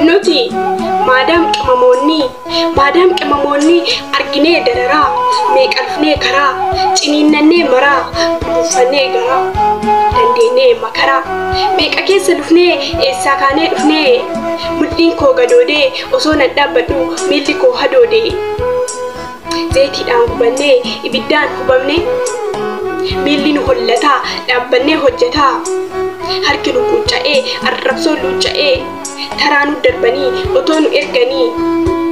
Nuti maadaam qimamoonnii Maadaam qimamoonnii Arginee dararaa Meeqalfnee karaa Ciniinnannee maraa Buduuffannee garaa Dandeennee makaraa Meeqa keessa lufnee Eessaa kaanee dhufnee Mudhiin koo gadoodee Osoo nan dhaabbadhuu Miilli koo hadoodee. Zayitiidhaan gubannee ibiddaan hubamnee miilli nu hollataa dhaabbannee hojjetaa harki nu quucca'ee arrabsoo luucca'ee taraa nu darbanii otoo nu erganii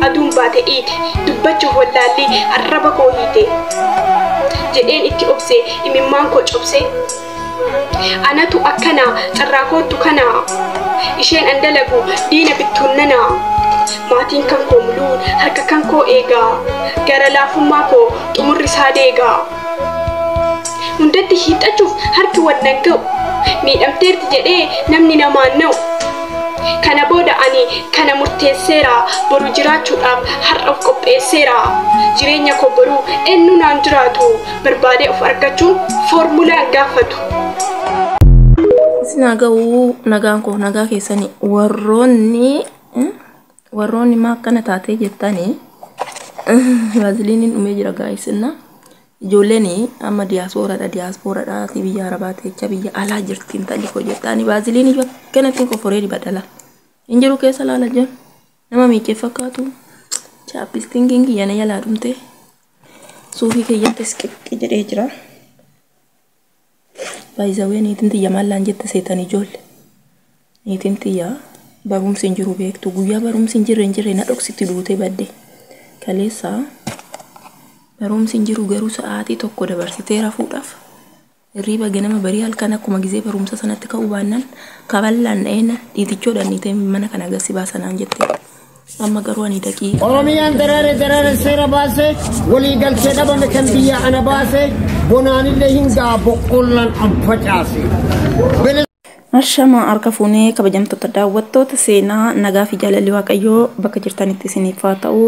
aduun baate iite dubbacha hollaallii arraba koo hiite jedheen itti obse imimmaan koo cobse. Anatu akkana carraa koottu kana isheen an dalagu diina bittuun nana maatiin kan koo muluu harka kan koo eega gara laafummaa koo xumurri isaa deega hundatti hiixachuuf harki wal nan ga'u miidhamteerti jedhee namni namaan na'u kana booda ani kana murteesseera boru jiraachuudhaaf har'a of qopheesseera jireenya koo boruu eenyu naan jiraatu barbaadee of argachuun foormulaa hin gaafatu. Isin haa ga'uu nagaan koo nagaa keessanii warroonni eh, warroonni maa akkana taatee jettanii vaaziliiniin dhumee jira gaa'issinna ijoolleen amma diyaasooradha diyaaspooradha asii biyya arabaa teecha biyya alaa jirti intalli koo jettanii vaaziliinii iyyuu akkanatti hin qoforee dibadhala hin jiru keessa laala jiru nama miicee fakkaatu chaappistingiin kiyya na jalaa dhumtee. Suufii keeyyattis qixxi jedhee jira. Baay'izawee niitiin tiyya maallaan jette seetan ijoolle. Niitiin tiyya barumsi hin jiru beektu guyyaa barumsi hin jirre hin jirre na dhoksitti duutee badde. Kaleessa barumsi hin jiru garuu sa'aatii tokko dabarsitee rafuudhaaf Hirriiba ganama barii halkan akkuma gizee barumsa sanatti ka'uu baannan kaballaan dha'een dhiitichoo dhanniitee mana kana agarsi baasa naan jette. Amma garuu ani daqiiqa. Oromiyaan daraare daraare seera baase walii galtee dhabame kan biyya ana baase bonaanillee hin ga'a boqqollaan an facaase. Ashamaa harka fuunee kabajamtoota daawwattoota seenaa nagaa fi jaalalli waaqayyoo bakka jirtanitti isiniif haa ta'u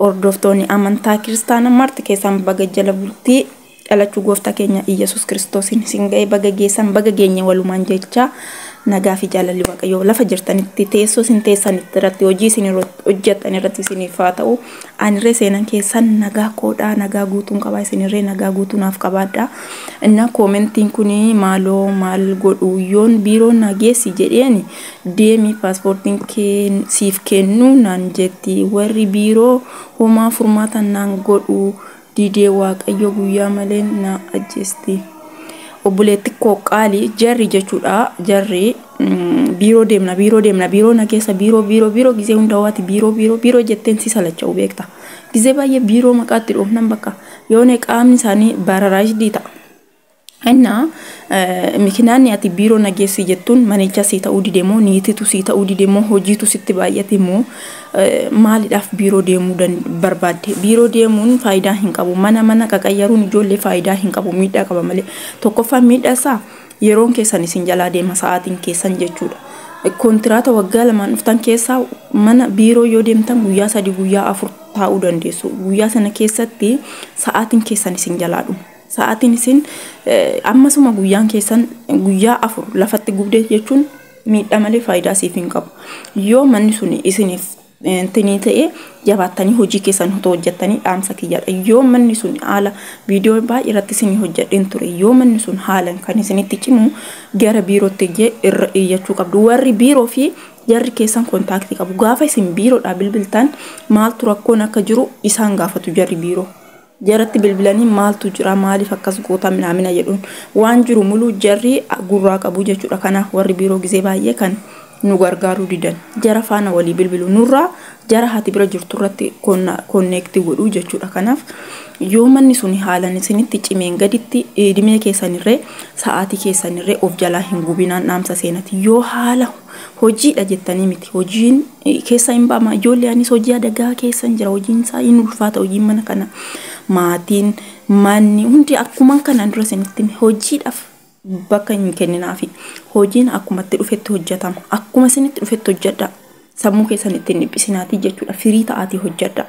hordoftoonni amantaa kiristaana marti keessaan baga jala bultii dhalachuu gooftaa keenya Iyyasuus kiristoosiin isin ga'ee baga geessan baga geenye walumaan jechaa nagaa fi jaalalli waaqayyoo lafa jirtanitti teessoo isin teessan irratti hojii isin hojjettan irratti isiniif haa ta'u Anirree seenan keessan nagaa koodhaa nagaa guutuun qabaa isinirree nagaa guutuu naaf qabaadhaa innaa koomentiin kun maaloo maal godhu yoon biiroon naa geessi jedheen deemi paaspoortiin kee siif kennu naan jetti warri biiroo homaa furmaatan naan godhu didee waaqayyo guyyaa malee na ajjeesti. Obboleetti koo qaali jarri jechuudha jarri biiroo deemna biiroo deemna biiroo na keessa biiroo biiroo biiroo gizee hunda waati biiroo biiroo biiroo jetteen si salacha'u beekta. Gizee baay'ee biiroo maqaatti dhoofnan bakka yoone qaamni isaanii baararaashdii ta'a. Inna, mikinaanni ati biiroo na geessi jettuun manicha sii ta'uu dide moo niititu sii ta'uu dide moo hojiitu sitti baay'ate moo maalidhaaf biiroo deemuu dan- barbaadde? Biiroo deemuun faayidaa hin qabu. Mana mana qaqayyaruun ijoollee faayidaa hin qabu. Miidhaa qaba malee. Tokkoffaan miidhaa isaa yeroon keessan isin jalaa deema sa'aatiin keessan jechuudha. Kontiraata waggaa lamaan dhuftan keessaa mana biiroo yoo deemtan guyyaa sadii guyyaa afur taa'uu dandeessu. Guyyaa sana keessatti sa'aatiin keessan isin jalaa dhuma. Sa'aatiin isin ammasuma guyyaan keessan guyyaa afur lafatti gubde jechuun miidhaa malee faayidaa siif hin qabu. Yoo manni sun isiniif tinii ta'ee jabaattanii hojii keessan otoo hojjettanii dhaamsa kiyyaadha. Yoo manni sun haala viidiyoo baay'ee irratti isinii hojjedheen ture. Yoo manni sun haalan kan isinitti cimu gara biirootti ijjee irra iyyachuu qabdu. Warri biiroo fi jarri keessan kontaaktii qabu. Gaafa isin biiroodhaa bilbiltan maaltu rakkoon akka jiru isaan gaafatu jarri biiroo. Jaratti bilbilanii maaltu jira maaliif akkas goota minaamina jedhuun waan jiru muluu jarri gurraa qabuu jechuudha kanaaf warri biiroo gizee baay'ee kan nu gargaaruu didan jara faana walii bilbilu nurraa jara hati bira jirtu irratti konneekti godhuu jechuudha kanaaf yoo manni suni haalan isinitti cimeen gaditti idimee keessanirree sa'aatii keessanirree of jalaa hin gubinaan dhaamsa seenati yoo haala Hojiidha jettanii miti. Hojiin keessaa hin ba'ama. Ijoollee anis hojii adagaa keessan jira. Hojiin isaa hin ulfaata. Hojiin mana kana maatiin manni hundi akkuma kanaan dura isinitti hime. hojiidhaaf bakka hin kenninaafi. Hojiin akkuma itti dhufetti hojjetama. Akkuma isinitti dhufetti hojjedha. Sammuu keessan ittiin dhiphisinaatii jechuudha. Firii ta'aatii hojjedha.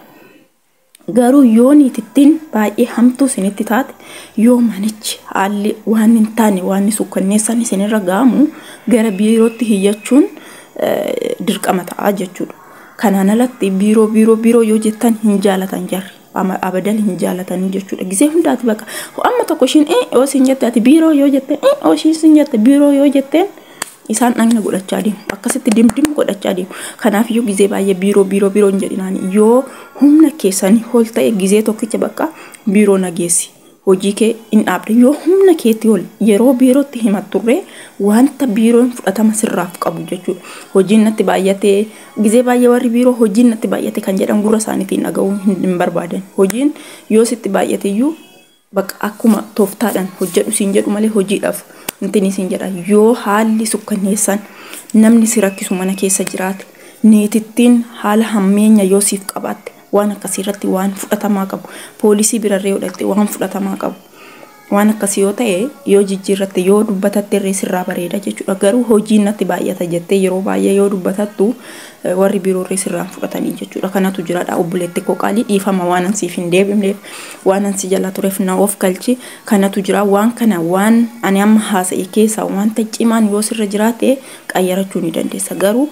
Garuu yoo niitittiin baay'ee hamtuu isinitti taate, yoo manichi haalli waan hin taane waan sukkanneessaan isinirra ga'amu gara biirootti hiyyachuun dirqama ta'a jechuudha. Kanaan alatti biiroo biiroo biiroo yoo jettan hin jaalatan jarri. Abadan hin jaalatanii jechuudha. Gisee hundaati baqa. Amma tokko ishiin ee yoo siin jette ati biiroo yoo jette ee yoo ishiin siin jette biiroo yoo jetteen Isaan dhagna godhachaa deemu. Akkasitti dimdim godhachaa deemu. Kanaaf iyyuu gizee baay'ee biiroo biiroo biiroo hin jedhinaan yoo humna keessanii ol ta'e gizee tokkicha bakka biiroo nageessi. Hojii kee hin dhaabde yoo humna keetti ol yeroo biirootti himatturree wanta biiroon fudhatama sirraaf qabu jechuudha. Hojiin natti baay'atee gizee baay'ee warri biiroo hojiin natti baay'ate kan jedhan gurra isaaniitiin dhaga'uu hin barbaadan. Hojiin yoo sitti baay'ate iyyuu Bakka akkuma tooftaadhaan hojjedhu siin jedhu malee hojiidhaaf intini siin jedha. Yoo haalli sukkanneessaan namni si rakkisu mana keessa jiraate, niitittiin haala hammeenya yoo siif qabaatte waan akkasii irratti waan fudhatamaa qabu, poolisii birarree yoo dhaqxe waan fudhatamaa qabu. Waan akkasii yoo ta'e yoo jijjiirratte yoo dubbatatte irree sirraa bareeda jechuudha. Garuu hojiin natti baay'ata jettee yeroo baay'ee yoo dubbatattu warri biroorree sirraan fudhatanii jechuudha kanatu jiraadha obboleetti koo qaalii dhiifama waanan siif hin deebimneef waanan si jala tureef na of galchi kanatu jira waan kana waan ani amma haasa'e keessaa wanta cimaan yoo sirra jiraate qayyarachuu ni dandeessa garuu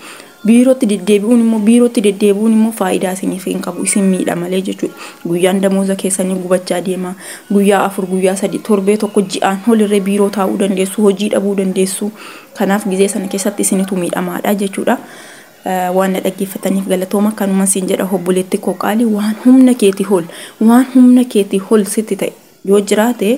biirootti deddeebi'uun immoo biirootti deddeebi'uun immoo faayidaa isiniif hin qabu isin miidha malee jechuudha guyyaan damooza keessanii gubachaa deema guyyaa afur guyyaa sadii torbee tokko ji'aan holirree biiroo taa'uu dandeessu hojii dhabuu dandeessu Kanaaf gizee sana keessatti isinitu miidhamaadha jechuudha. Waan na dhaggeeffataniif galatooma kanuman siin jedha obboleetti koo qaali waan humna keetii ol waan humna keetii ol sitti ta'e yoo jiraate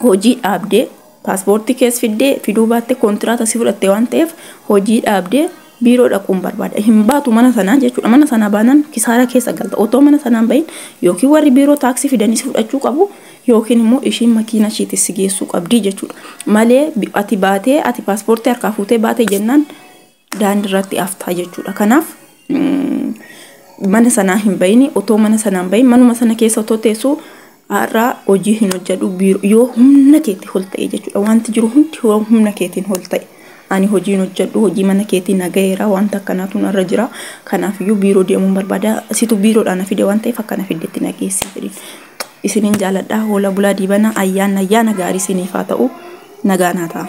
hojii dhaabdee paaspoortii kees fiddee fiduu baatte kontiraata si fudhatte waan ta'eef hojii dhaabdee Biiroo dhaquun barbaada. Hin baatu mana sanaa jechuudha. Mana sanaa baanaan kisaaraa keessa galta. Otoo mana sanaan bahin yookiin warri biiroo taaksii fidanii si fudhachuu qabu yookiin immoo ishiin makiina ishiitti si geessuu qabdi jechuudha. Malee ati baatee ati paaspoortii harkaa fuutee baatee jennaan daandii irratti haftaa jechuudha. Kanaaf mana sanaa hin bahini otoo mana sanaan bahin manuma sana keessa otoo teessuu Har'aa hojii hin hojjedhu biiroo yoo humna keetti ol ta'e jechuudha. Wanti jiru hundi yoo humna keetiin ol ta'e. Ani hojii hin hojjedhu hojii mana keetii na ga'eera wanta akkanaatu narra jira. Kanaafiyyuu biiroo deemuun barbaada. Situ biiroodhaa na fide waan ta'eef akka na fiddetti na geessi jedhiin. Isinin jaaladha hoola bulaa diibana ayyaan ayyaana gaarii isiniif haa ta'u nagaan haa ta'aa.